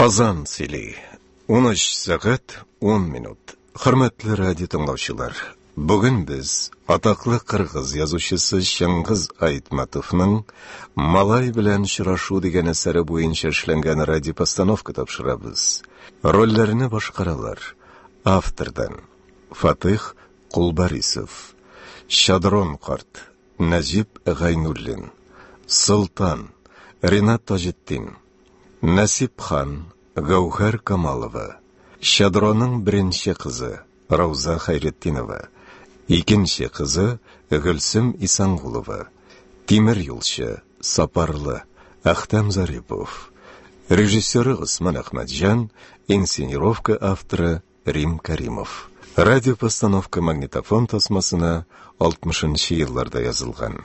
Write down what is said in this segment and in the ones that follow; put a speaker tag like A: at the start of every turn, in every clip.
A: Казан сөйли. 13 сәгать 10 минут. Хөрмәтле радио тыңлаучылар, бүген без атаклы кыргыз язучысы Чыңгыз Айтматовның Малай белән очрашу дигән әсәре буенча эшләнгән радиопостановка тапшырабыз. Рольләрне башкаралар. Автордан Фатих Кулбарисов, Шадрон карт, Нәҗип Гайнуллин, Солтан, Ринат Таҗетдин. Нәсип хан, Гәүһәр Камалова, Щадроның беренче кызы, Рауза Хәйретдинова, икенче кызы, Гөлсем Исангулова, тимер юлчы, Сапарлы, Әхтәм Зарипов, режиссеры Госман Әхмәтҗан, инсценировка авторы Рим Кәримов. Радиопостановка магнитофон тасмасына 60 нчы елларда язылган.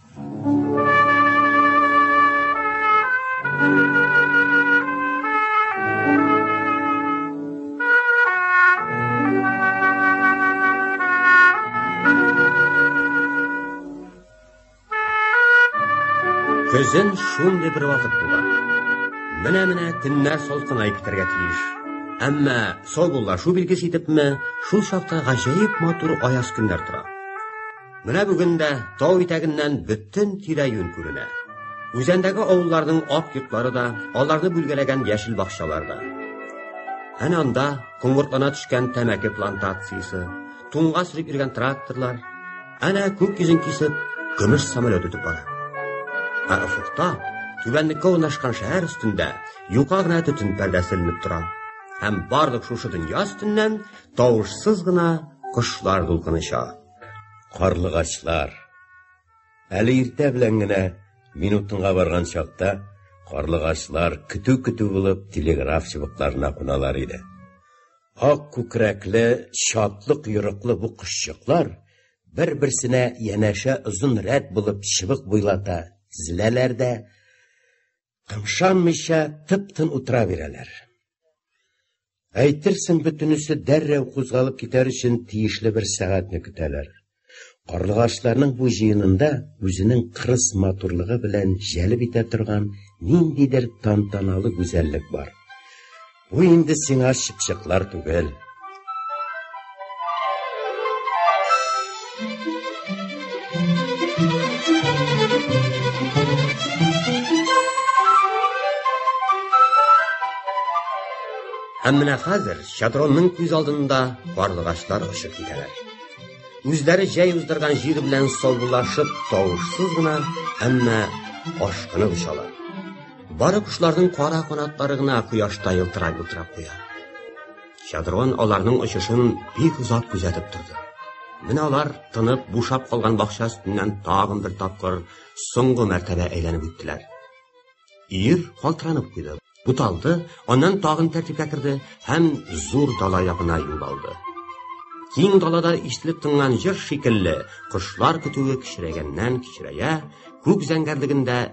B: Көзен шундый бер вакыт була. Менә-менә төннәр салкынайып китәргә тиеш. Әмма саубуллашу билгесе итепме, шул чакта гаҗәеп матур аяз көннәр тора. Менә бүген дә тау итәгеннән бөтен тирә-юнь күренә. Үзәндәге авылларның ак йортлары да, аларны бүлгәләгән яшел бакчалар да. Әнә анда коңгыртлана төшкән тәмәке плантациясе, туңга сөреп йөргән тракторлар, әнә күк йөзен кисеп, көмеш самолет үтеп бара. Ә офыкта түбәнлеккә урнашкан шәһәр өстендә юка гына төтен пәрдәсе эленеп тора. Һәм барлык шушы дөнья өстеннән тавышсыз гына кошлар дулкыныша. Карлыгачлар.
C: Әле иртә белән генә минутынга барган чакта карлыгачлар көтү-көтү булып телеграф чыбыкларына куналар иде. Ак күкрәкле, чатлык йөрәкле бу кошчыклар бер-берсенә янәшә озын рәт булып чыбык буйлата тезеләләр дә Кымшанмыйча тып-тын утыра бирәләр. Әйтерсең бөтенесе дәррәү кузгалып китәр өчен тиешле бер сәгатьне көтәләр. Карлыгачларның бу җыенында үзенең кырыс матурлыгы белән җәлеп итә торган ниндидер тантаналы гүзәллек бар. Бу инде сиңа чыпчыклар түгел.
B: Һәм менә хәзер Шадронның күз алдында карлыгачлар очып китәләр. Үзләре җәй уздырган җир белән саубуллашып, тавышсыз гына, әмма ашкынып очалар. Бары кошларның кара канатлары гына кояшта елтырап утыра куя. Чадрон аларның очышын бик озак күзәтеп торды. Менә алар тынып, бушап калган бакча өстеннән тагын бер тапкыр соңгы мәртәбә әйләнеп үттеләр. Ир калтыранып куйды, буталды, аннан тагын тәртипкә керде һәм зур дала ягына юл алды. Киң далада ишетелеп тыңлан җыр шикелле, кошлар көтүе кичерәгәннән кичерәя, күк зәңгәрлегендә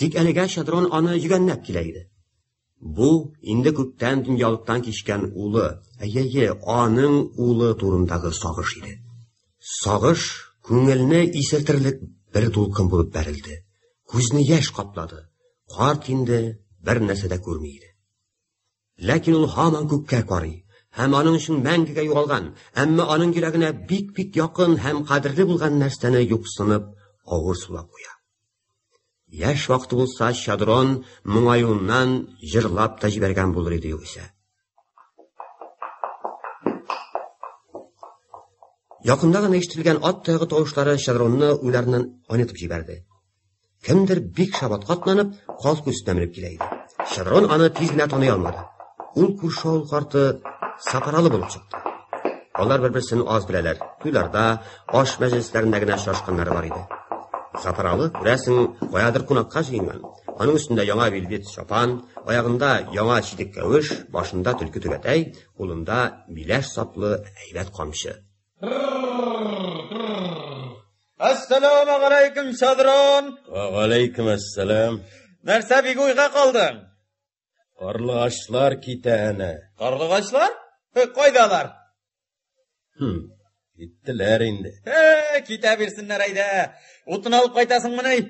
B: Тик әлегә Шадрон аны йөгәннәп килә иде. Бу инде күптән дөньялыктан кичкән улы, әйе, аның улы турындагы сагыш иде. Сагыш күңелне исертерлек бер дулкын булып бәрелде. Күзне яшь каплады. Карт инде бер нәрсә дә күрми иде. Ләкин ул һаман күккә карый һәм аның өчен мәңгегә югалган, әмма аның йөрәгенә бик-бик якын һәм кадерле булган нәрсәне юксынып, авыр сулап куя. Яшь вакыты булса, Чадрон моңаюыннан җырлап та җибәргән булыр иде югыйсә. Якында гына ишетелгән ат тагы тавышлары Чадронны уйларыннан айнытып җибәрде. Кемдер бик шабат катланып, каз күстән менеп килә иде. Чадрон аны тиз генә таный алмады. Ул күрше авыл карты Сапаралы булып чыкты. Алар бер-берсен аз беләләр. Туйларда, Аш мәҗлесләрендә генә очрашканнары бар иде. Сатыралы, күрәсең, каядыр кунакка җыенган. Аның өстендә яңа вельвет чапан, аягында яңа читек кәвеш, башында төлке түбәтәй, кулында миләш саплы әйбәт камчы.
D: Әссәламегаләйкем, Садрон! Вәгаләйкемәссәлам!
C: Нәрсә бик
D: уйга калдың?
C: Карлыгачлар китә әнә. Карлыгачлар?
D: Э, кайда алар? Хм,
C: киттеләр инде. Э, китә
D: бирсеннәр әйдә. Утын алып кайтасыңмыни?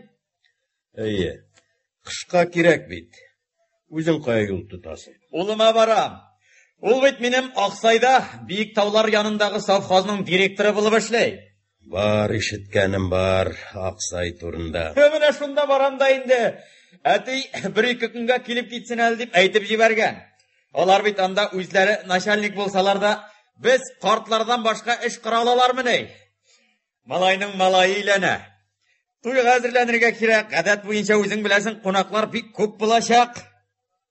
D: Әйе.
C: Кышка кирәк бит. Үзең кая юл тотасың? Улыма барам.
D: Ул бит минем Аксайда, Биек таулар янындагы совхозның директоры булып эшли. Бар
C: ишеткәнем бар Аксай турында. Менә шунда барам
D: да инде. Әти бер-ике көнгә килеп китсен әле дип әйтеп җибәргән. Алар бит анда үзләре начальник булсалар да, без картлардан башка эш кыра алалармы ни? Малайның малае иләнә. Туйга әзерләнергә кирәк. Гадәт буенча үзең беләсең, кунаклар бик күп булачак.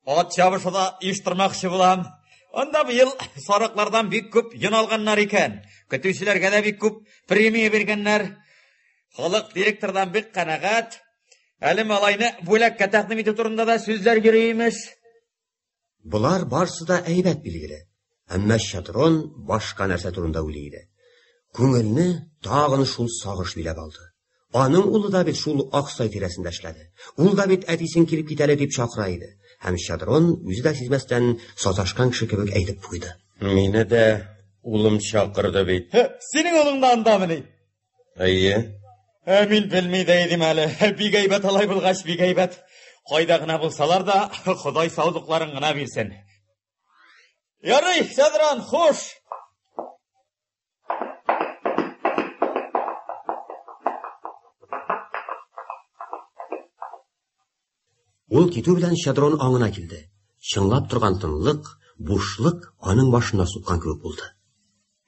D: Ат чабышуда иштырмакчы булам. Анда быел сарыклардан бик күп йон алганнар икән. Көтүчеләргә дә бик күп премия биргәннәр. Халык директордан бик канәгать. Әле малайны бүләккә тәкъдим итү турында да сүзләр йөри имеш.
B: Болар барсы да әйбәт билгеле. Әмма Шатрон башка нәрсә турында уйлый иде. Күңелне тагын шул сагыш биләп алды. Аның улы да бит шул Аксай тирәсендә эшләде. Ул да бит әтисен килеп китәле дип чакыра иде. Һәм Щедрон үзе дә сизмәстән саташкан кеше кебек әйтеп куйды. Мине дә
C: улым чакырды бит. Синең улың да
D: андамыни? Әйе.
C: Ә мин
D: белми дә идем әле. Бик әйбәт алай булгач, бик әйбәт. Кайда гына булсалар да, Ходай саулыкларын гына бирсен. Ярый, Щедрон, хуш.
B: Ул китү белән Щедрон аңына килде. Чыңлап торган тынлык, бушлык аның башына суккан кебек булды.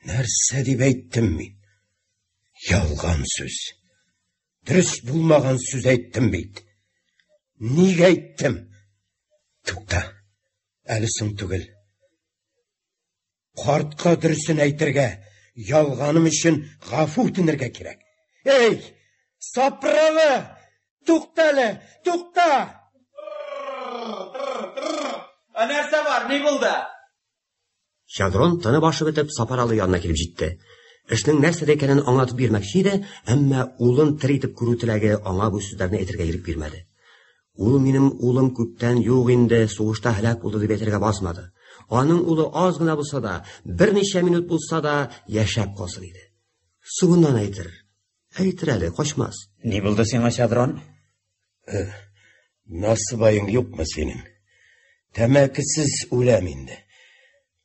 B: Нәрсә
C: дип әйттем мин? Ялган сүз. Дөрес булмаган сүз әйттем бит. Нигә әйттем? Тукта. Әле соң түгел. Картка дөресен әйтергә, ялганым өчен гафу үтенергә кирәк. Эй, сапралы! Туктале, тукта!
D: Ә нәрсә бар, ни булды?
B: Шадрон тыны башы бетеп Сапаралы янына килеп җитте. Эшнең нәрсәдә икәнен аңлатып бирмәкче иде, әмма улын тер итеп күрү теләге аңа бу сүзләрне әйтергә ирек бирмәде. Ул минем улым күптән юк инде, сугышта һәлак булды дип әйтергә басмады. Аның улы аз гына булса да, берничә минут булса да яшәп калсын иде. Сугыннан әйтер. Әйтер әле, качмас. Ни булды сиңа,
D: Чадрон? Э,
C: Насыбаең юкмы синең? Тәмәкесез үләм инде.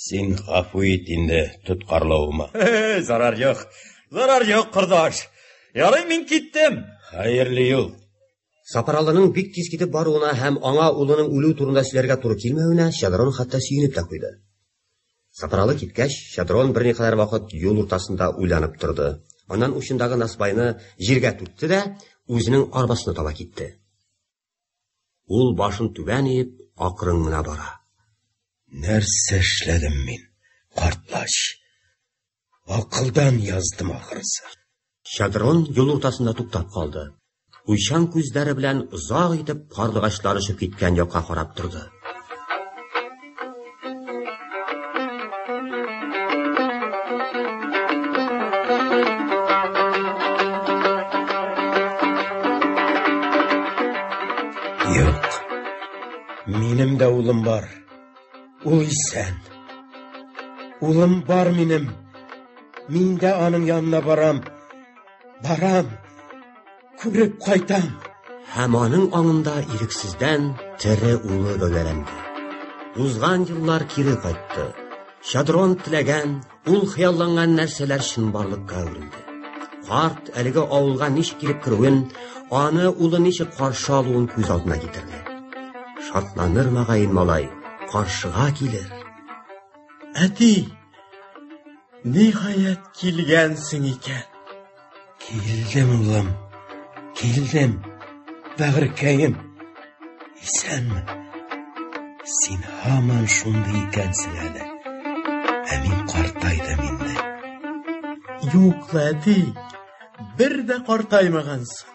C: Син гафу ит инде тоткарлавыма. Зарар
D: юк. Зарар юк, кордаш. Ярый мин киттем. Хәерле юл.
C: Сапаралының
B: бик тиз китеп баруына һәм аңа улының үлү турында сөйләргә туры килмәвенә Шадрон хәтта сөенеп тә куйды. Сапаралы киткәч, Шадрон берникадәр вакыт юл уртасында уйланып торды. Аннан учындагы насбайны җиргә түкте дә, үзенең арбасына таба китте. Ул башын түбән иеп, акрын гына бара. Нәрсә
C: эшләдем мин, картлач? Акылдан яздым ахрысы. Шадрон
B: юл уртасында туктап калды. Уйчан күзләре белән озак итеп карлыгачлар очып киткән якка карап торды.
C: Минем дә улым бар. Ул исән. Улым бар минем. Мин дә аның янына барам. Барам. Күреп кайтам. Һәм
B: аның аңында ирексездән тере улы гәүдәләнде. Узган еллар кире кайтты. Шадрон теләгән, ул хыялланган нәрсәләр чынбарлыкка әверелде. Карт әлеге авылга ничек килеп керүен, аны улы ничек каршы алуын күз алдына китерде. Шатланыр мөгаен малай, каршыга килер.
E: Әти, ниһаять килгәнсең икән. Килдем,
C: улым, килдем, бәгыркәем. Исәнме? Син һаман шундый икәнсең әле. Ә мин картайдым инде.
E: Юк, әти, бер дә картаймагансың.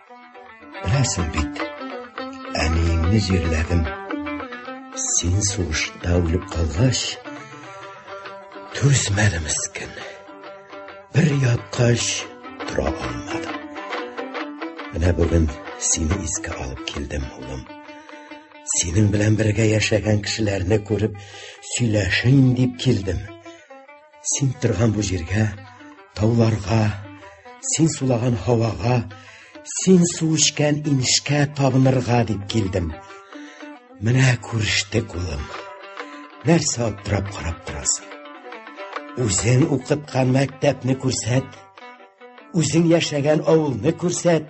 C: Беләсең бит, әниеңне җирләдем. Син сугышта үлеп калгач, түзмәде мескин. Бер яткач тора алмады. Менә бүген сине искә алып килдем, улым. Синең белән бергә яшәгән кешеләрне күреп, сөйләшим дип килдем. Син торган бу җиргә, тауларга, син сулаган һавага, син су эчкән инешкә табынырга дип килдем. Менә күрештек, улым. Нәрсә аптырап карап торасың? Үзең укыткан мәктәпне күрсәт, үзең яшәгән авылны күрсәт.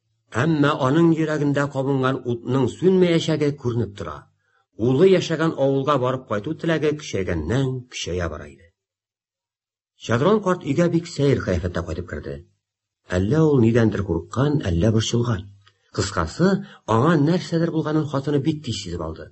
C: Әмма
B: аның йөрәгендә кабынган утның сүнмәячәге күренеп тора. Улы яшәгән авылга барып кайту теләге көчәйгәннән көчәя бара иде. Чадрон карт өйгә бик сәер кыяфәттә кайтып керде. Әллә ул нидәндер курыккан, әллә борчылган. Кыскасы, аңа нәрсәдер булганын хатыны бик тиз сизеп алды.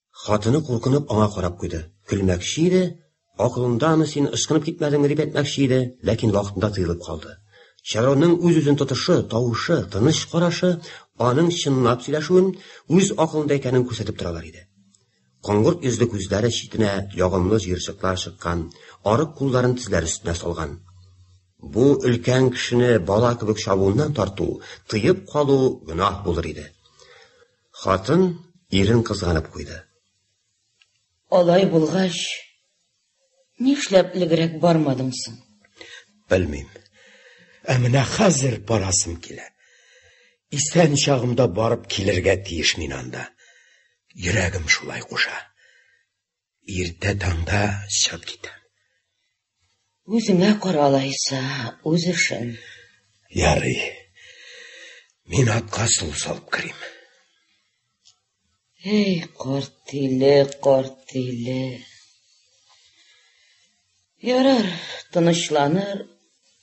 F: Хатыны куркынып
B: аңа карап куйды. Көлмәкче иде, акылындамы син, ычкынып китмәдеңме дип әйтмәкче иде, ләкин вакытында тыелып калды. Чароның үз-үзен тотышы, тавышы, тыныч карашы аның чынлап сөйләшүен, үз акылында икәнен күрсәтеп торалар иде. Коңгырт йөзле күзләре читенә ягымлы җыерчыклар чыккан, арык кулларын тезләр өстенә салган. Бу өлкән кешене бала кебек чабуыннан тарту, тыеп калу гөнаһ булыр иде. Хатын ирен кызганып куйды.
F: Алай булгач, нишләп элегрәк бармадың соң? Белмим.
C: Ә менә хәзер барасым килә. Исән чагымда барып килергә тиеш мин анда. Йөрәгем шулай куша. Иртә таңда чыгып китә.
F: Үзеңә каралайса, үз эшен. Ярый.
C: Мин атка су салып керим.
F: Эй, корт иле, корт иле. Ярар, тынычланыр,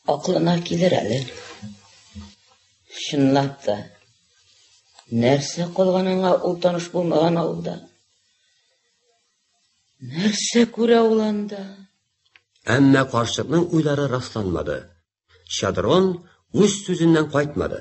F: аклына килер әле. Чынлап та, нәрсә калганыңа ул таныш булмаган авылда. Нәрсә күрә ул анда? Әмма
B: карчыкның уйлары расланмады. Шадрон үз сүзеннән кайтмады.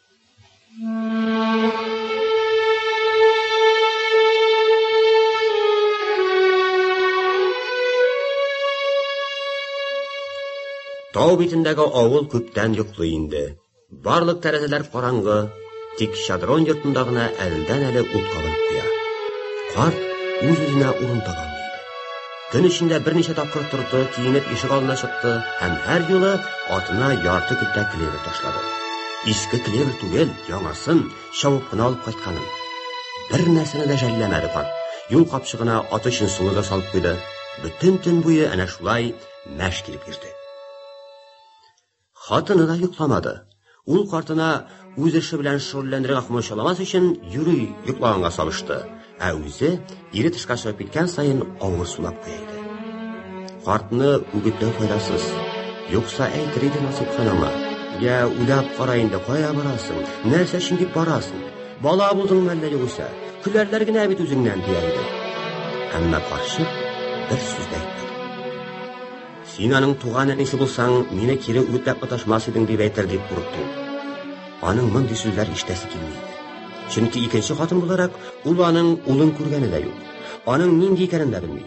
B: Тау битендәге авыл күптән йоклый инде. Барлык тәрәзәләр караңгы, тик шадрон йортында гына әлдән әле ут кабынып куя. Карт үз-үзенә урын таба Көн эчендә берничә тапкыр торды, киенеп ишек алдына чыкты һәм һәр юлы атына ярты көтә клевер ташлады. Иске клевер түгел, яңасын чавып кына алып кайтканын. Бер нәрсәне дә жәлләмәде карт. Юл капчыгына аты өчен сулы да салып куйды. Бөтен төн буе әнә шулай мәш килеп йөрде. Хатыны да йокламады. Ул картына үз эше белән шөгыльләнергә комачауламас өчен юри йоклаганга салышты, ә үзе ире тышка чыгып киткән саен авыр сулап куя иде. Картны үгетләү файдасыз. Юкса әйтер иде Насыйпхан аңа. Я, уйлап кара инде, кая барасың? Нәрсә өчен дип барасың? Бала булдыңмы әллә югыйсә? Көләрләр генә бит үзеңнән, дия иде. Әмма карчык бер сүз дә әйтмәде. Син аның туган әнисе булсаң, мине кире үтәп оташмас идең дип әйтер дип курыкты. Аның мондый сүзләр ишетәсе килми иде. Чөнки икенче хатын буларак ул аның улын күргәне дә юк. Аның нинди икәнен дә белми.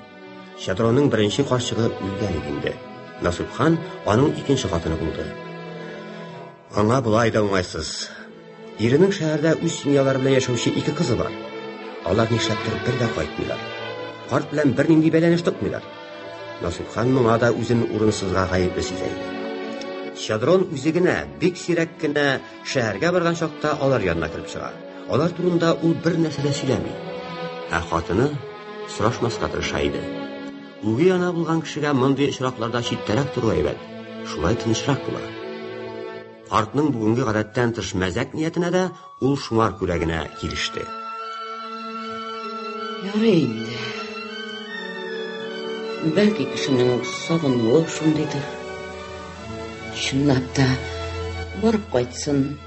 B: Шадроның беренче карчыгы үлгән иде инде. Насыйп хан аның икенче хатыны булды. Аңа болай да уңайсыз. Иренең шәһәрдә үз семьялары белән яшәүче ике кызы бар. Алар нишләптер бер дә кайтмыйлар. Карт белән бернинди бәйләнеш тотмыйлар. Насыйпхан моңа да үзен урынсызга гаепле сизә иде. Щедрон үзе генә бик сирәк кенә шәһәргә барган чакта алар янына кереп чыга. Алар турында ул бер нәрсә дә сөйләми. Ә хатыны сорашмаска тырыша иде. Үги ана булган кешегә мондый очракларда читтәрәк тору әйбәт. Шулай тынычрак була. Картның бүгенге гадәттән тыш мәзәк ниятенә дә ул шуңар күрә генә килеште.
F: Ярый инде. Бәлки кешенең сагынуы шундыйдыр. Чынлап та барып кайтсын.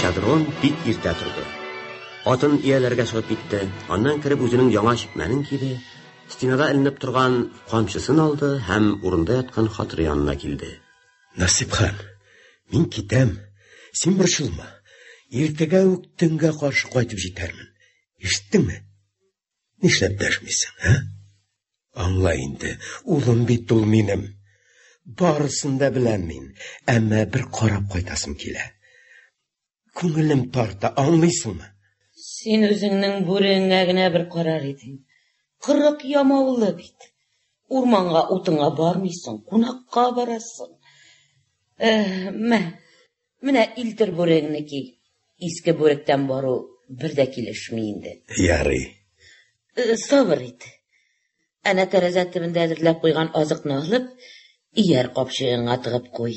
B: Шадрон бик иртә торды. Атын ияләргә чыгып китте. Аннан кереп үзенең яңа чикмәнен киде. Стенада эленеп торган камчысын алды һәм урында яткан хатыры янына килде. Насипхан,
C: мин китәм, син борчылма. Иртәгә үк төнгә каршы кайтып җитәрмен. Ишеттеңме? Нишләп дәшмисең, ә? Аңла инде, улым бит ул минем. Барысын да беләм мин, әмма бер карап кайтасым килә. Күңелем тарта, аңлыйсыңмы? Син
F: үзеңнең бүреңә генә бер карар идең. Кырык ямаулы бит. Урманга утыңа бармыйсың, кунакка барасың. Э, мә, менә илтер бүрегеңне ки. Иске бүректән бару бер дә килешми инде. Ярый.
C: Э,
F: сабыр ит. Әнә тәрәзә төбендә әзерләп куйган азыкны алып, ияр капчыгыңа тыгып куй.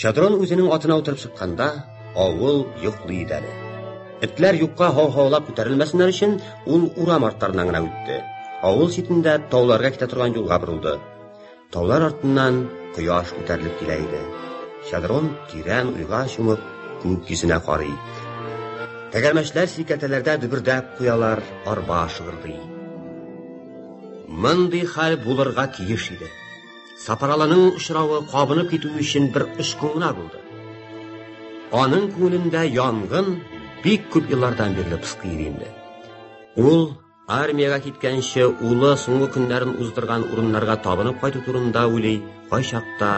B: Чатрон үзенең атына утырып чыкканда, авыл йоклый иде әле. Этләр юкка һау-һаулап күтәрелмәсеннәр өчен, ул урам арттарыннан гына үтте. Авыл читендә тауларга китә торган юлга борылды. Таулар артыннан кояш күтәрелеп килә иде. Чадрон тирән уйга чумып, күк йөзенә карый. Тәгәрмәчләр сикәтәләрдә дөбердәп куялар, арба шыгырдый. Мондый хәл булырга тиеш иде. Сапаралының очравы кабынып китү өчен бер очкын гына булды. Аның күңелендә янгын бик күп еллардан бирле пыскый инде. Ул армиягә киткәнче улы соңгы көннәрен уздырган урыннарга табынып кайту турында уйлый, кайчакта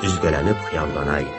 B: өзгәләнеп хыяллана иде.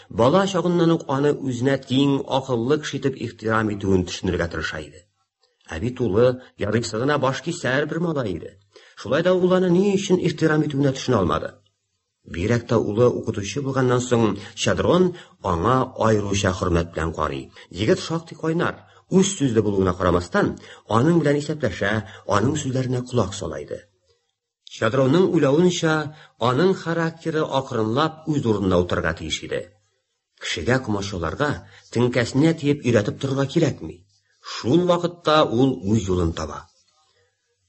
B: Бала чагыннан ук аны үзенә тиң, акыллы кеше итеп ихтирам итүен төшенергә тырыша иде. Ә бит улы ярыйсы гына башкисәр бер малай иде. Шулай да ул аны ни өчен ихтирам итүенә төшенә алмады. Бигрәк тә улы укытучы булганнан соң Чадрон аңа аеруча хөрмәт белән карый. Егет шактый кайнар, үз сүзле булуына карамастан, аның белән исәпләшә, аның сүзләренә колак сала иде. Чадрауның уйлавынча, аның характеры акрынлап үз урынына утырырга тиеш иде. Кешегә комачауларга, теңкәсенә тиеп өйрәтеп торырга кирәкми. Шул вакытта ул үз юлын таба.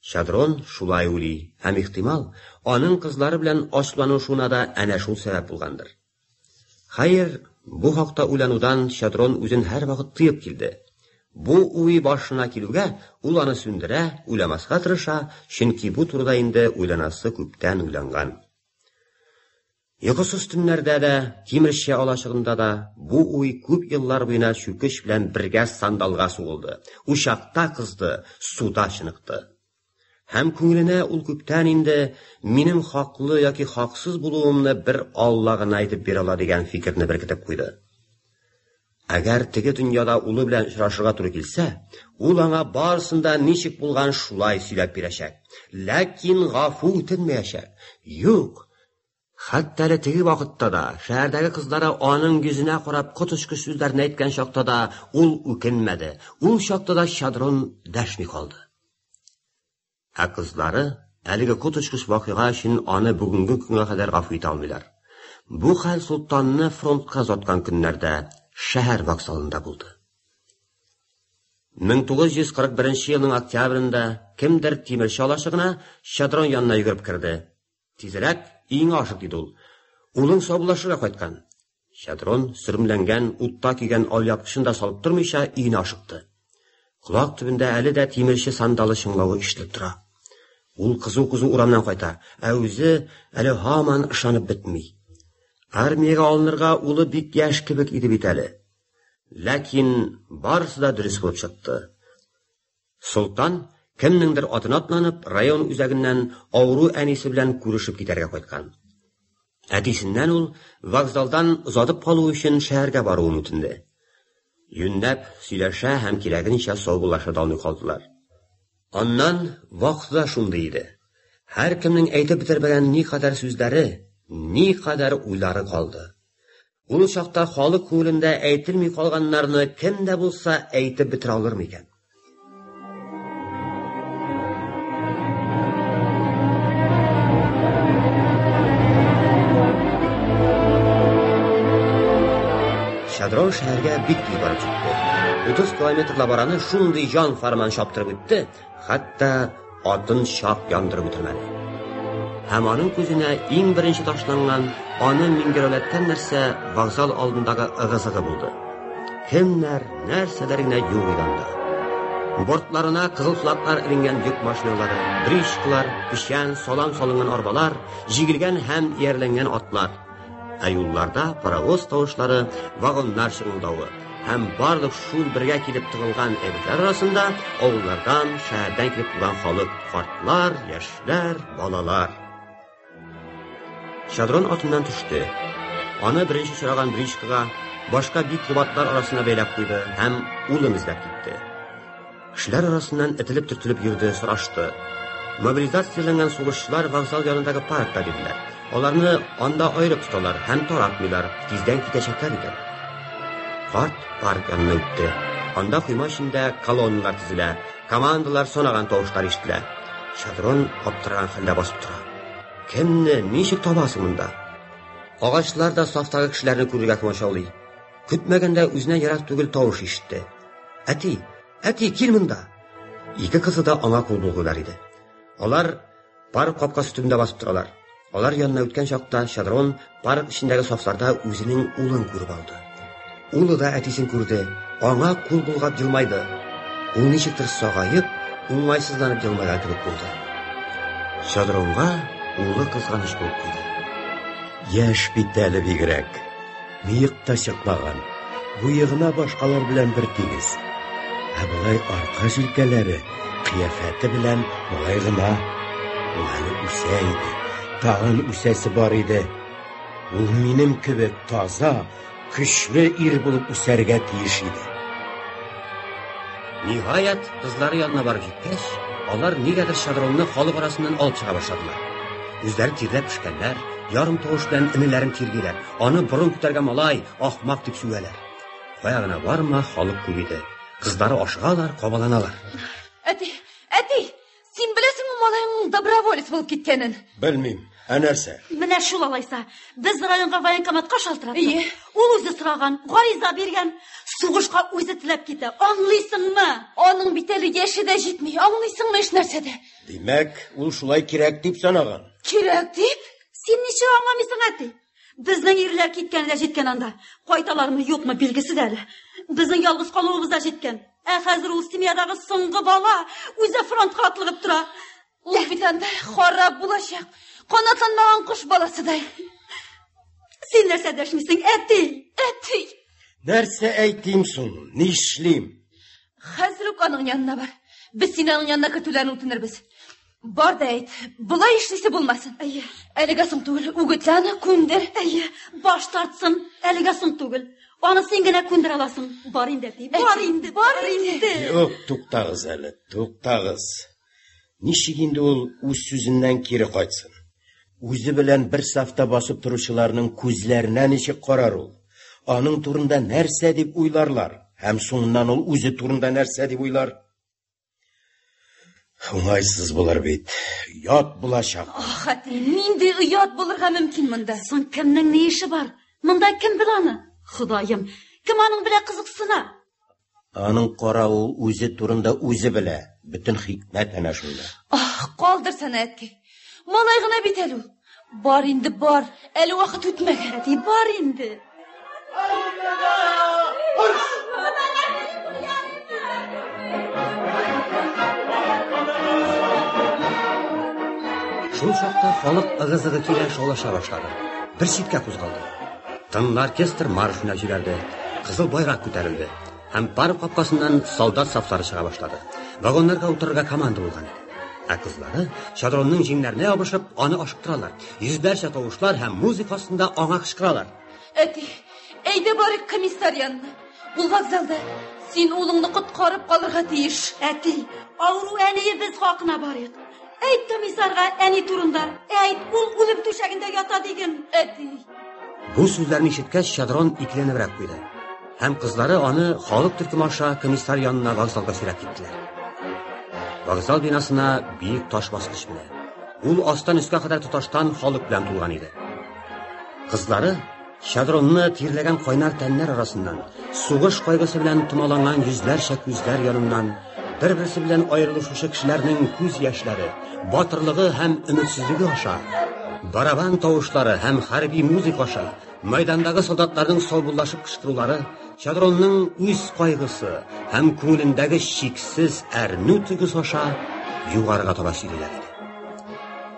B: Чадрон шулай уйлый һәм, ихтимал, аның кызлары белән ачуланышуына да әнә шул сәбәп булгандыр. Хәер, бу хакта уйланудан Щедрон үзен һәрвакыт тыеп килде. Бу уй башына килүгә, ул аны сүндерә, уйламаска тырыша, чөнки бу турыда инде уйланасы күптән уйланган. Йокысыз төннәрдә дә, тимерче алачыгында да бу уй күп еллар буена чүкеч белән бергә сандалга сугылды, учакта кызды, суда чыныкты. Һәм күңеленә ул күптән инде минем хаклы яки хаксыз булуымны бер Алла гына әйтеп бирә ала дигән фикерне беркетеп куйды. Әгәр теге дөньяда улы белән очрашырга туры килсә, ул аңа барысында ничек булган шулай сөйләп бирәчәк. Ләкин гафу үтенмәячәк. Юк, Хәтта әле теге вакытта да, шәһәрдәге кызлары аның йөзенә карап коточкыч сүзләрне әйткән чакта да, ул үкенмәде, ул чакта да Чадрон дәшми калды. Ә кызлары әлеге коточкыч вакыйга өчен аны бүгенге көнгә кадәр гафу итә алмыйлар. Бу хәл Солтанны фронтка озаткан көннәрдә шәһәр вокзалында булды. 1941 елның октябрендә кемдер тимерче алачыгына Чадрон янына йөгереп керде. Тизрәк өеңә ашык, диде ул. Улың саубуллашырга кайткан. Чадрон, сөрмләнгән, утта көйгән алъяпкычын да салып тормыйча, өенә ашыкты. Колак төбендә әле дә тимерче сандалы чыңлавы ишетелеп тора. Ул кызу-кызу урамнан кайта, ә үзе әле һаман ышанып бетми. Армиягә алынырга улы бик яшь кебек иде бит әле. Ләкин барысы да дөрес булып чыкты. Солтан, кемнеңдер атына атланып, район үзәгеннән авыру әнисе белән күрешеп китәргә кайткан. Әтисеннән ул вокзалдан озатып калу өчен шәһәргә баруын үтенде. Юннәп сөйләшә һәм кирәгенчә саубуллаша да алмый калдылар. Аннан вакыты да шундый иде. Һәркемнең әйтеп бетермәгән никадәр сүзләре, никадәр уйлары калды. Ул чакта халык күңелендә әйтелми калганнарны кем дә булса әйтеп бетерә алыр микән? Шадрон шәһәргә бик тиз барып җитте. 30 километр лабараны шундый җан фарман чаптырып үтте, Хәтта атын чак яндырып үтермәде. Һәм аның күзенә иң беренче ташланган аны миңгерәүләткән нәрсә вокзал алдындагы ыгы-зыгы булды. Кемнәр, нәрсәләр генә юк иде анда. Бортларына кызыл флаглар эленгән йөк машиналары, бричкалар, печән, салам салынган арбалар, җигелгән һәм иярләнгән атлар. Ә юлларда паровоз тавышлары, вагоннар шыңылдавы һәм барлык шул бергә килеп тыгылган әйберләр арасында авыллардан, шәһәрдән килеп туган халык, картлар, яшьләр, балалар. Шадрон атыннан төште. Аны беренче сораган бричкага башка бик кубатлар арасына бәйләп куйды һәм улын эзләп китте. Кешеләр арасыннан этелеп-төртелеп йөрде, сорашты. Мобилизацияләнгән сугышчылар вокзал янындагы паркта диделәр. Аларны анда аерып тоталар һәм таратмыйлар, тиздән китәчәкләр икән. Карт парк янына үтте. Анда койма эчендә колонналар тезелә, командалар санаган тавышлар ишетелә. Шадрон аптыраган хәлдә басып тора. Кемне, ничек табасың монда? Агачлар да сафтагы кешеләрне күрергә комачаулый. Көтмәгәндә үзенә ерак түгел тавыш ишетте. Әти, әти, кил монда. Ике кызы да аңа кул булгылар иде. Алар парк капкасы төбендә басып торалар. Алар янына үткән чакта Шадрон парк эчендәге сафларда үзенең улын күреп алды. Улы да әтисен күрде, аңа кул булгап елмайды. Ул ничектер сагаеп, уңайсызланып елмайган кебек булды. Шадронга улы кызганыч булып куйды. Яшь
C: бит әле бигрәк. Мыек та чыкмаган, буе гына башкалар белән бер тигез. Ә болай арка җилкәләре, кыяфәте белән болай гына. Ул әле үсә иде, тагын үсәсе бар иде. Ул минем кебек таза, көчле ир булып үсәргә тиеш иде.
B: Ниһаять, кызлары янына барып җиткәч, алар нигәдер шадронны халык арасыннан алып чыга башладылар. Үзләре тирләп пешкәннәр, ярым тавыш белән энеләрен тиргиләп, Аны борын күтәргән малай, ахмак дип сүгәләр. Кая гына барма, халык күп иде. Кызлары ашыгалар, кабаланалар. Әти,
G: әти, син беләсеңме малайыңның доброволец булып киткәнен? Белмим. Ә
C: нәрсә? Менә шул алайса.
H: Без районга военкоматка шалтыраттык. Ие. Ул үзе сораган, гариза биргән. Сугышка үзе теләп китә. Аңлыйсыңмы? Аның бит әле
G: яше дә җитми. Аңлыйсыңмы эш нәрсәдә? Димәк, ул
C: шулай кирәк дип санаган. Кирәк дип?
G: Син ничек
H: аңламыйсың, әти? Безнең ирләр киткән дә җиткән анда. Кайталармы, юкмы, билгесез әле. Безнең ялгыз калуыбыз да җиткән. Ә хәзер ул семьядагы соңгы бала үзе фронтка атлыгып тора. Ул бит анда
G: харап булачак. Канатланмаган кош баласыдай.
H: Син нәрсә дәшмисең, әти? Әти!
C: Нәрсә әйтим соң? Нишлим? Хәзер
G: үк аның янына бар. Без сине аның янына көтүләрен үтенербез. Бар да әйт, болай эшлисе булмасын. Әйе. Әлегә соң түгел, үгетлә аны, күндер. Әйе, баш
H: тартсын, әлегә соң түгел. Аны син генә күндер аласың. Бар инде, әти, бар инде, бар инде. Юк, туктагыз
C: әле, туктагыз. Ничек инде ул үз сүзеннән кире кайтсын? Үзе белән бер сафта басып торучыларның күзләренә ничек карар ул? Аның турында нәрсә дип уйларлар? Һәм соңыннан ул үзе турында нәрсә дип уйлар? Уңайсыз булыр бит. Ят булачак. Ах, әти, нинди
G: оят булырга мөмкин монда? Соң кемнең ни эше
H: бар? Монда кем бил аны? Ходаем, кем аның белә кызыксына? Аның
C: каравы үзе турында үзе белә. Бөтен хикмәт әнә шунда. Ах, калдырсана,
G: әткәй. Малай гына бит әле ул. Бар инде, бар. Әле вакыт үтмәгән. Әти, бар инде.
B: Шул чакта халык ыгы-зыгы килә шаулаша башлады. Бер читкә кузгалды. Тынлы оркестр марш менә җибәрде. Кызыл байрак күтәрелде. Һәм парк капкасыннан солдат сафлары чыга башлады. Вагоннарга утырырга команда булган иде. Ә кызлары, шадронның җиңнәренә ябышып, аны ашыктыралар. Йөзләрчә тавышлар һәм музыка астында аңа кычкыралар. Әти,
G: әйдә барыйк комиссар янына. Ул вокзалда. Син улыңны коткарып калырга тиеш. Әти,
H: авыру әниебез хакына барыйк. Әйт комиссарга әни турында. Әйт, ул үлем түшәгендә ята диген. Әти,
G: Бу
B: сүзләрне ишеткәч, Чадрон икеләнебрәк куйды. Һәм кызлары аны халык төркеме аша комиссар янына вокзалга сөйрәп киттеләр. Вокзал бинасына биек таш баскыч менә. Ул астан өскә кадәр тоташтан халык белән тулган иде. Кызлары Чадронны тирләгән кайнар тәннәр арасыннан, сугыш кайгысы белән томаланган йөзләрчә күзләр яныннан Бер-берсе белән аерылышучы кешеләрнең күз яшьләре, батырлыгы һәм өметсезлеге аша, барабан тавышлары һәм хәрби музыка аша, мәйдандагы солдатларның саубуллашып кычкырулары, Чадронның үз кайгысы һәм күңелендәге чиксез әрнү тойгысы аша югарыга таба сөйлиләр иде.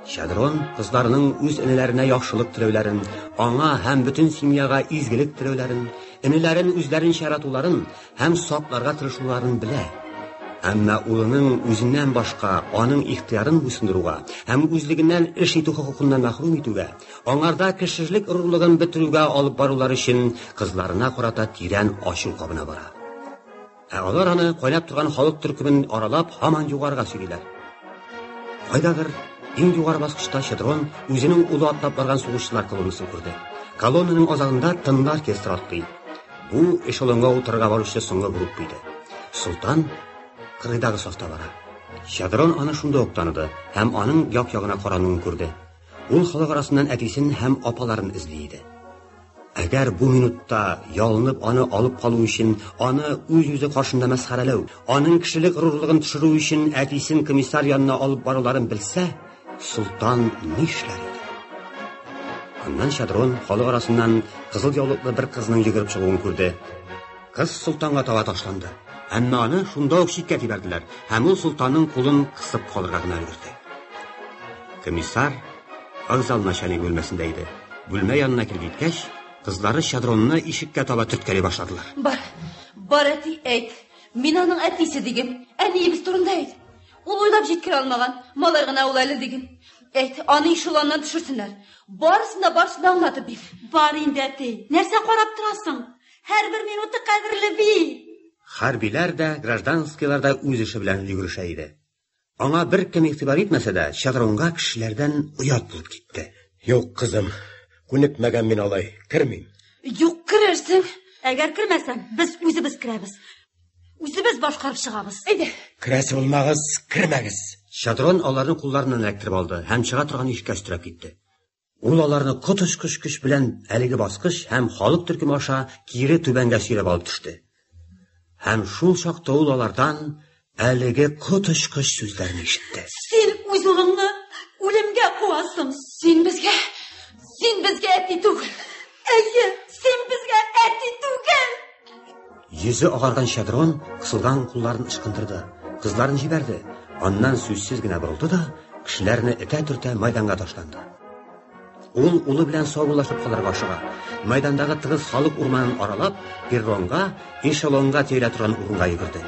B: Чадрон кызларының үз энеләренә яхшылык теләүләрен, аңа һәм бөтен семьяга изгелек теләүләрен, энеләрен үзләренчә яратуларын Һәм сакларга тырышуларын белә. Әмма улының үзеннән башка аның ихтыярын буйсындыруга һәм үзлегеннән эш итү хокукыннан мәхрүм итүгә, аңарда кешелек горурлыгын бетерүгә алып барулары өчен кызларына карата тирән ачу кабына бара. Ә алар аны кайнап торган халык төркемен аралап һаман югарыга сөйлиләр. Кайдадыр иң югары баскычта Чедрон үзенең улы атлап барган сугышчылар колоннасын күрде. Колоннаның азагында тынлы оркестр атлый. Бу эшелонга утырырга баручы соңгы группа иде. Солтан кырыйдагы сафта бара. Чадрон аны шунда ук таныды һәм аның як-ягына карануын күрде. Ул халык арасыннан әтисен һәм апаларын эзли иде. Әгәр бу минутта ялынып аны алып калу өчен, аны үз-үзе каршында мәсхәрәләү, аның кешелек горурлыгын төшерү өчен әтисен комиссар янына алып баруларын белсә, Солтан нишләр иде? Аннан Шадрон халык арасыннан кызыл яулыклы бер кызның йөгереп чыгуын күрде. Кыз солтанга таба ташланды. Әмма аны шунда ук читкә тибәрделәр, һәм ул солтанның кулын кысып калырга гына өлгерде. Комиссар вокзал начальник бүлмәсендә иде. Бүлмә янына килеп җиткәч, кызлары Шадронны ишеккә таба төрткәли башладылар. Бар,
G: бар әти, әйт. Мин аның әтисе диген. Әниебез турында әйт. Ул уйлап җиткерә алмаган. Малай гына ул әле диген. Әйт, аны ишелоннан төшерсеннәр. Барысын да барысын да аңлатып бир. Бар инде, әти.
H: Нәрсә карап торасың? Һәрбер минуты кадерле бит. Хәрбиләр
B: дә, гражданскийлар да үз эше белән йөгерешә иде. Аңа беркем игътибар итмәсә дә, чыгырынга кешеләрдән оят булып китте. Юк, кызым,
C: күнекмәгән мин алай, кермим. Юк,
G: керерсең. Әгәр кермәсәң,
H: без үзебез керәбез. Үзебез башкарып чыгабыз. Әйдә. Керәсе
G: булмагыз,
C: кермәгез. Шадрон аларны
B: кулларыннан эләктереп алды һәм чыга торган ишеккә өстерәп китте. Ул аларны коточкыч көч белән әлеге баскыч һәм халык төркеме аша кире түбәнгә сөйрәп алып төште. Һәм шул чакта ул алардан әлеге коточкыч сүзләрне ишетте. Син үз улыңны
H: үлемгә куасың. Син безгә,
G: син безгә әти түгел. Әйе,
H: син безгә әти түгел! Йөзе
B: агарган Шадрон кысылган кулларын ычкындырды, кызларын җибәрде, аннан сүзсез генә борылды да, кешеләрне этә-төртә майданга ташланды. Ул улы белән саубуллашып калырга ашыга. Майдандагы тыгыз халык урманын аралап, перронга, эшелонга тирә торган урынга йөгерде.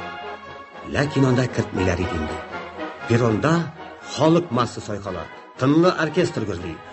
B: Ләкин анда кертмиләр иде инде. Перронда халык масса сайкала, тынлы оркестр гөрли.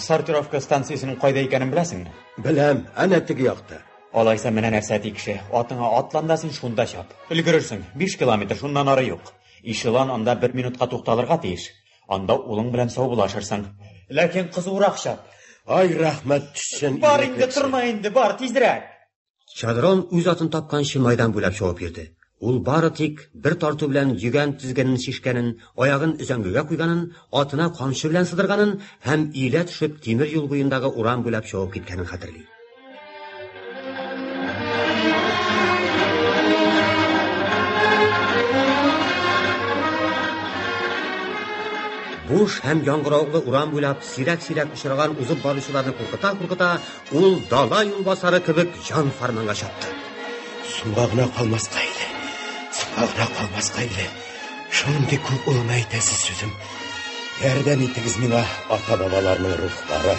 C: Сортировка
D: станциясенең кайда икәнен беләсеңме? Беләм, әнә
C: теге якта. Алайса менә нәрсә
D: тикше. Атыңа атлан да син шунда чап. Өлгерерсең. 5 километр шуннан ары юк. Ишелон анда 1 минутка тукталырга тиеш. Анда улың белән саубулашырсың. Ләкин кызурак чап. Ай, рәхмәт
C: төшсен. Бар инде, тормай
D: инде, бар, тизрәк. Чадрон
B: үз атын тапканчы майдан буйлап шуып йөрде. Ул бары тик бер тарту белән йөгән тезгенен шешкәнен, аягын өзәңгегә куйганын, атына камчы белән сыдырганын һәм иелә төшеп тимер юл буендагы урам буйлап шуып киткәнен хәтерли. Буш һәм яңгыраулы урам буйлап сирәк-сирәк очраган узып баручыларны куркыта-куркыта, Ул дала юлбасары кебек җан фарманга чапты. Суга гына
C: калмаска иде. Суга гына калмаска иде. Шундый күп улына әйтәсе сүзем. Ярдәм итегез миңа, ата-бабаларның рухлары.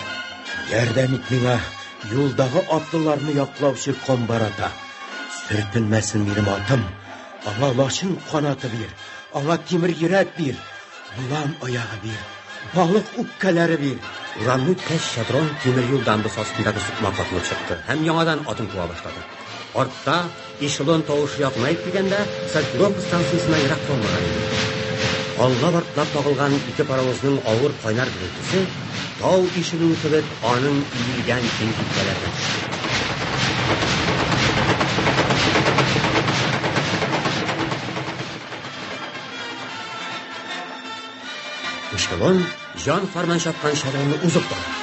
C: Ярдәм ит миңа, юлдагы атлыларны яклаучы комбарата. Сөртелмәсен минем атым. Аңа лачын канаты бир. Аңа тимер йөрәк бир. Балам аягы бир, балык үпкәләре бир. Урамны үткәч,
B: Шадрон тимер юл дамбасы астындагы сукма катылып чыкты һәм яңадан атын куа башлады. Артта эшелон тавышы якынайып килгәндә, Сальтгров станциясенә ерак калмаган иде. Алга бартлап тагылган ике паровозның авыр кайнар гөрелтесе тау ишелүе кебек аның иелгән киң киткәләренә Эшелон җан фарман чапкан шәрәне узып бара.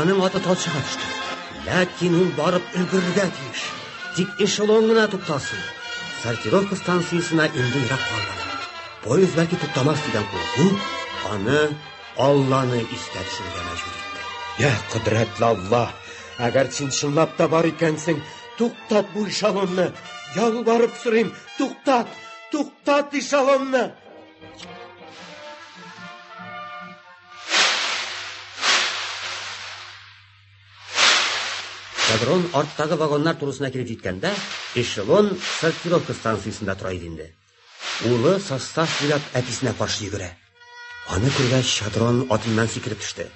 B: Аның аты талчыга төште. Ләкин ул барып өлгерергә тиеш. Тик эшелон гына туктасын. Сортировка станциясенә инде ерак калмады. Поезд бәлки туктамас дигән курку аны Алланы искә төшерергә мәҗбүр итте. Я, кодрәтле
C: Алла, әгәр син чынлап та бар икәнсең, туктат бу эшелонны. Ялварып сорыйм, туктат! Туктат
B: эшелонны! Кадрон арттагы вагоннар турысына килеп җиткәндә, эшелон сортировка станциясендә тора иде инде. Улы состав буйлап әтисенә каршы йөгерә. Аны күргәч, Шадрон атыннан сикереп төште.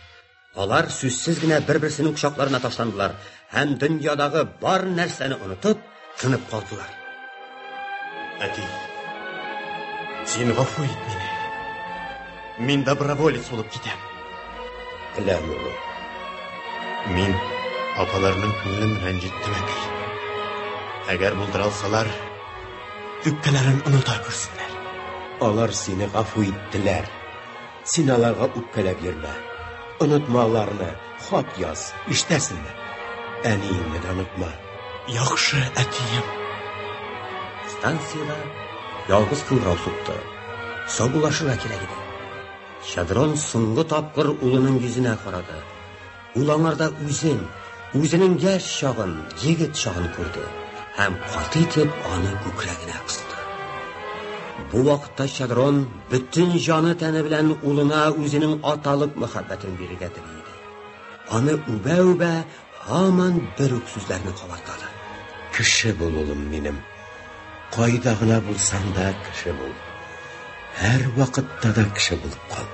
B: Алар сүзсез генә бер-берсенең кочакларына ташландылар һәм дөньядагы бар нәрсәне онытып, тынып калдылар.
E: Әти, син гафу ит мине. Мин доброволец булып китәм. Әләм
C: улым.
E: Мин апаларның күңелен рәнҗеттем әти. Әгәр булдыра алсалар, үпкәләрен оныта күрсеннәр. Алар
C: сине гафу иттеләр. Син аларга үпкәләп йөрмә. Онытма аларны, хат яз, ишетәсеңме? Әниеңне дә онытма. Яхшы,
E: әтием.
B: Станциядә ялгыз кыңгырау сукты. Саубуллашырга кирәк иде. Щадрон соңгы тапкыр улының йөзенә карады. Ул аңарда үзен, үзенең яшь чагын, егет чагын күрде һәм каты итеп аны күкрәгенә кысты. Бу вакытта Чадрон бөтен җаны тәне белән улына үзенең аталык мәхәббәтен бирергә тели иде. Аны үбә-үбә һаман бер үк сүзләрне кабартады. Кеше
C: бул, улым минем. Кайда гына булсаң да кеше бул. Һәр вакытта да кеше булып кал.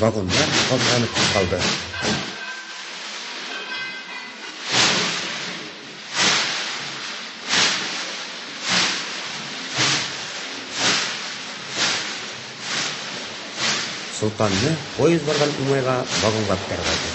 B: Вагоннар калтыранып кузгалды. Солтанны поезд барган уңайга вагонга күтәреп алды.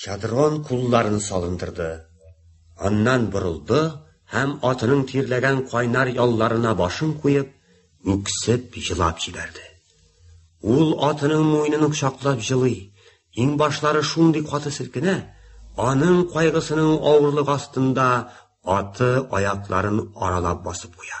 B: Чадрон кулларын салындырды. Аннан борылды һәм атының тирләгән кайнар ялларына башын куеп, үксеп җылап җибәрде. Ул атының муйнын кочаклап җылый, иң башлары шундый каты селкенә, аның кайгысының авырлык астында аты аякларын аралап басып куя.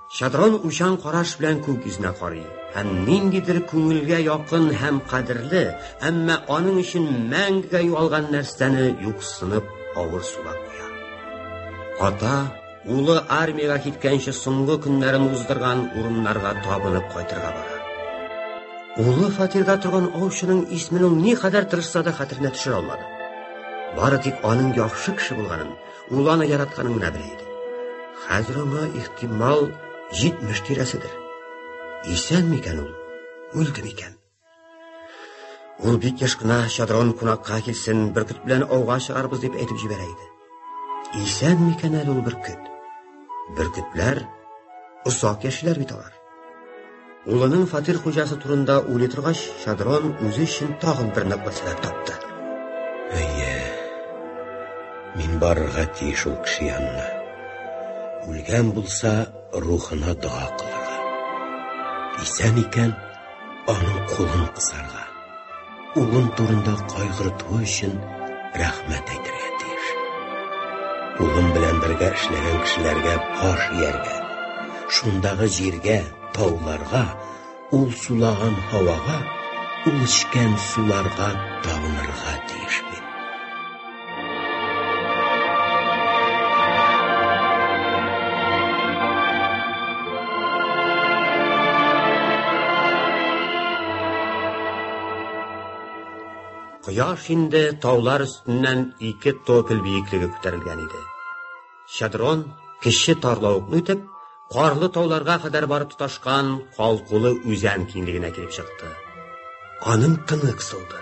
B: Шадрон учан караш белән күк йөзенә карый һәм ниндидер күңелгә якын һәм кадерле, әмма аның өчен мәңгегә югалган нәрсәне юксынып авыр сулап куя. Ата, улы армиягә киткәнче соңгы көннәрен уздырган урыннарга табынып кайтырга бара. Улы фатирда торган аучының исемен ул ни кадәр тырышса да хәтеренә төшерә алмады. Бары тик аның яхшы кеше булганын, Ул аны яратканын гына белә иде. Хәзер аңа ихтимал 70 тирәседер. Исән микән ул? Үлде микән? Ул бик яш кына Шадрон кунакка килсен, бөркет белән ауга чыгарбыз дип әйтеп җибәрә иде. Исән микән әле ул бөркет? Бөркетләр озак яшиләр бит алар. Улының фатир хуҗасы турында уйлый торгач, Шадрон үзе өчен тагын бер ныклы сәбәп тапты. Әйе.
C: Мин барырга тиеш ул кеше янына. Үлгән булса, рухына дога кылырга. Исән икән, Аның кулын кысарга, улын турында кайгыртуы өчен рәхмәт әйтергә тиеш. Улым белән бергә эшләгән кешеләргә баш ияргә, шундагы җиргә, тауларга, ул сулаган һавага, ул эчкән суларга табынырга тиеш бит.
B: Кояш инде таулар өстеннән ике топель биеклеге күтәрелгән иде. Шадрон кеше тарлавыкны үтеп, карлы тауларга кадәр барып тоташкан калкулы үзән киңлегенә килеп чыкты. Аның тыны кысылды.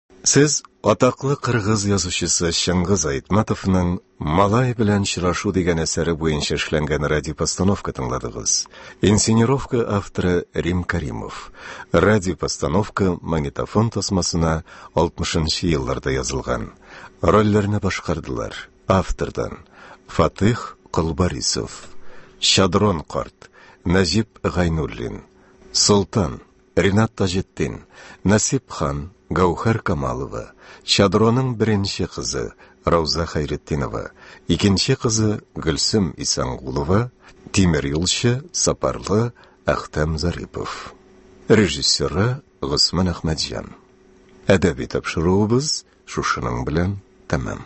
A: Сез атаклы кыргыз язучысы Чыңгыз Айтматовның Малай белән чырашу дигән әсәре буенча эшләнгән радиопостановка тыңладыгыз. Инсценировка авторы Рим Каримов. Радиопостановка магнитофон тасмасына 60-нчы елларда язылган. Рольләрне башкардылар. Автордан Фатих Колбарисов, Шадрон карт, Назип Гайнуллин, Солтан Ринат Таҗетдин, Насип хан, Гәүһәр Камалова, Чадроның беренче кызы Рауза Хәйретдинова, икенче кызы Гөлсем Исәнгулова, тимер юлчы Сапарлы Әхтәм Зарипов. Режиссеры Госман Әхмәтҗан. Әдәби тапшыруыбыз шушының белән тәмам.